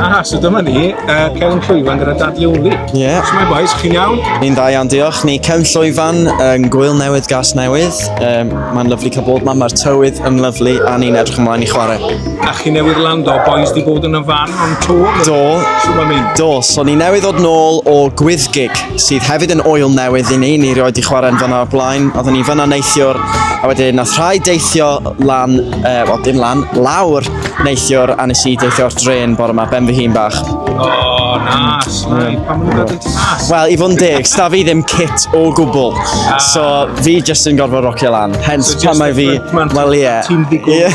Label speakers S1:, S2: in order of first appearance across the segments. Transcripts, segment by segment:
S1: Ah, so dyma ni, uh, Celyn Llwyfan gyda Dad Leoli. Ie. Yeah. So mae boys, chi'n iawn? Ni'n dda iawn, diolch. Ni Celyn Llwyfan yn gwyl newydd, gas newydd. Um, Mae'n lyflu cael bod yma, mae'r tywydd yn lyflu a ni'n edrych ymlaen i chwarae. A chi newydd lando, boys di bod yn y fan o'n tŵ? Do. So mae'n mynd? Do, so ni newydd ddod nôl o gwyddgig sydd hefyd yn oil newydd i ni. Ni rioed i chwarae'n fanna o'r blaen. Oedden ni fanna neithiwr a wedyn nath rhai deithio lan, e, eh, wel dim lan, lawr neithiwr a nes i deithio o'r dren bore yma, ben fy hun bach. O, oh, nas, mae, pan maen nhw'n gael nas? Wel, i fod yn deg, sta fi ddim kit o gwbl. Ah. So, fi jyst yn gorfod rocio lan. Hence, so, pan mae fi, wel ie. Ti'n ddigwydd,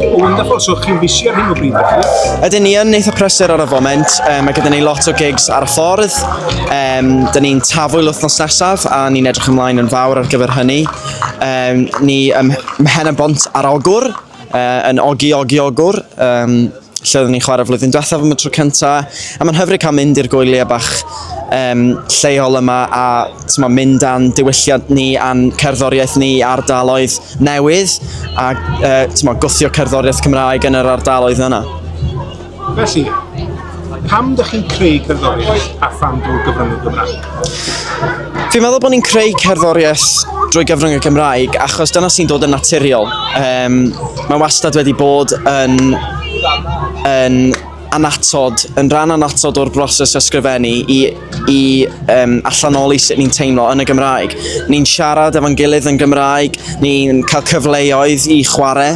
S1: O, wonderful, so chi'n busy ar hyn o bryd, felly? Ydyn ni yn neitho prysur ar y foment, um, mae gyda ni lot o gigs ar y ffordd, Um, da ni'n tafwyl wythnos nesaf a ni'n edrych ymlaen yn fawr ar gyfer hynny. Um, ni ym Mhen y Bont ar Ogwr, uh, yn Ogi Ogi Ogwr, um, lle oeddwn ni'n chwarae flwyddyn diwethaf am y tro cyntaf. A mae'n hyfryd cael mynd i'r gwyliau bach um, lleol yma a ma, mynd a'n diwylliant ni a'n cerddoriaeth ni ardaloedd newydd a uh, ma, gwthio cerddoriaeth Cymraeg yn yr ardaloedd yna. Felly, pam dych chi'n creu cerddoriaeth a pham drwy gyfrwng y Gymraeg? Fi'n meddwl bod ni'n creu cerddoriaeth drwy gyfrwng y Gymraeg achos dyna sy'n dod yn naturiol. Um, mae wastad wedi bod yn, yn anatod, yn rhan anatod o'r broses ysgrifennu i, i um, allanoli sut ni'n teimlo yn y Gymraeg. Ni'n siarad efo'n gilydd yn Gymraeg, ni'n cael cyfleoedd i chwarae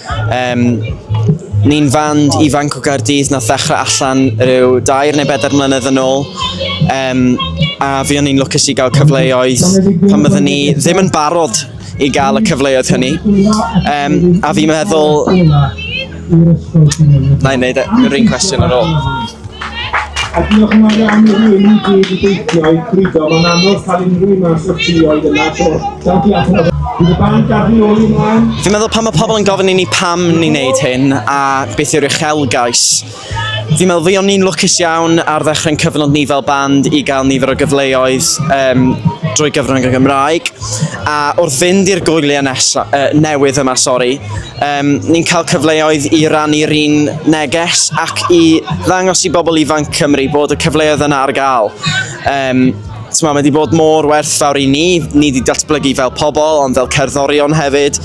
S1: Um, ni'n fand ifanc o Gaerdydd na ddechrau allan rhyw dair neu bedair mlynedd yn ôl. Um, a fi o'n i'n lwcus i gael cyfleoedd pan byddwn ni ddim yn barod i gael y cyfleoedd hynny. Um, a fi'n meddwl... Na i wneud e, yr un cwestiwn ar ôl. A diolch yn fawr iawn i hyn i gyd i deithio i Grido. Mae'n anodd cael unrhyw un mas o'r tri oedd yna, so da diolch yn fawr. Bydd y band gadw ôl i mlaen. Fi'n meddwl pan mae pobl yn gofyn i ni pam ni'n neud hyn a beth yw'r uchelgais. Fi'n meddwl fi o'n ni'n lwcus iawn ar ddechrau'n cyfnod ni fel band i gael nifer o gyfleoedd um, drwy gyfrwng y Gymraeg. A wrth fynd i'r gwyliau nesa, uh, newydd yma, sori, Um, ni'n cael cyfleoedd i rannu'r un neges ac i ddangos i bobl ifanc Cymru bod y cyfleoedd yna ar gael. Um, mae wedi bod mor werthfawr i ni, ni wedi datblygu fel pobl ond fel cerddorion hefyd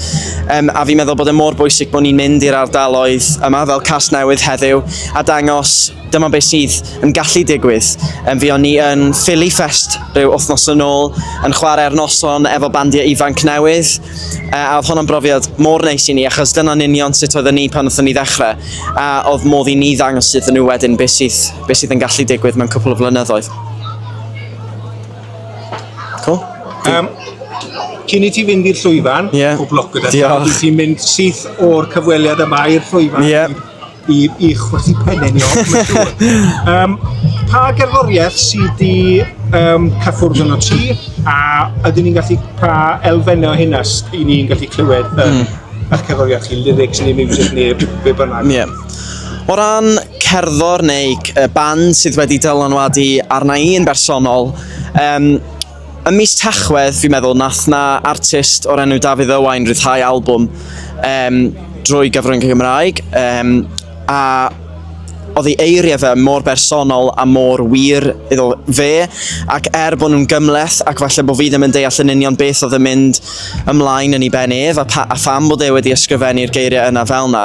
S1: um, a fi'n meddwl bod e mor bwysig bod ni'n mynd i'r ardaloedd yma fel cas newydd heddiw a dangos dyma beth sydd yn gallu digwydd. Um, fi o'n ni yn Philly Fest rhyw wythnos yn ôl yn chwarae'r noson efo bandiau ifanc newydd A oedd hwnna'n brofiad mor neis i ni, achos dyna'n union sut oedden ni pan oedden ni ddechrau, a oedd modd i ni ddangos iddyn nhw wedyn beth sydd, be sydd yn gallu digwydd mewn cwpl o flynyddoedd. Cool? Um, cyn i ti fynd i'r llwyfan, yeah. pob lwc gyda ti, ti'n mynd syth o'r cyfweliad yma i'r llwyfan. Yeah. i, i chwythu pennau ni off, mae'n siŵr. Um, pa gerddoriaeth sydd di um, cyffwrdd yn o ti, a ydyn ni'n gallu pa elfennau o hynna i ni'n gallu clywed yn um, mm. eich cerddoriaeth chi, lyrics neu music neu be bynnag? Yeah. O ran cerddor neu band sydd wedi dylanwadu arna i'n bersonol, um, Ym mis Tachwedd, fi'n meddwl, nath na artist o'r enw Dafydd Owain rhyddhau albwm um, drwy gyfrwng y Gymraeg, um, a oedd ei eiriau fe mor bersonol a mor wir iddo fe, ac er bod nhw'n gymleth ac falle bod fi ddim yn deall yn union beth oedd yn mynd ymlaen yn ei ben ef a, pa, a pham bod e wedi ysgrifennu'r geiriau yna fel yna,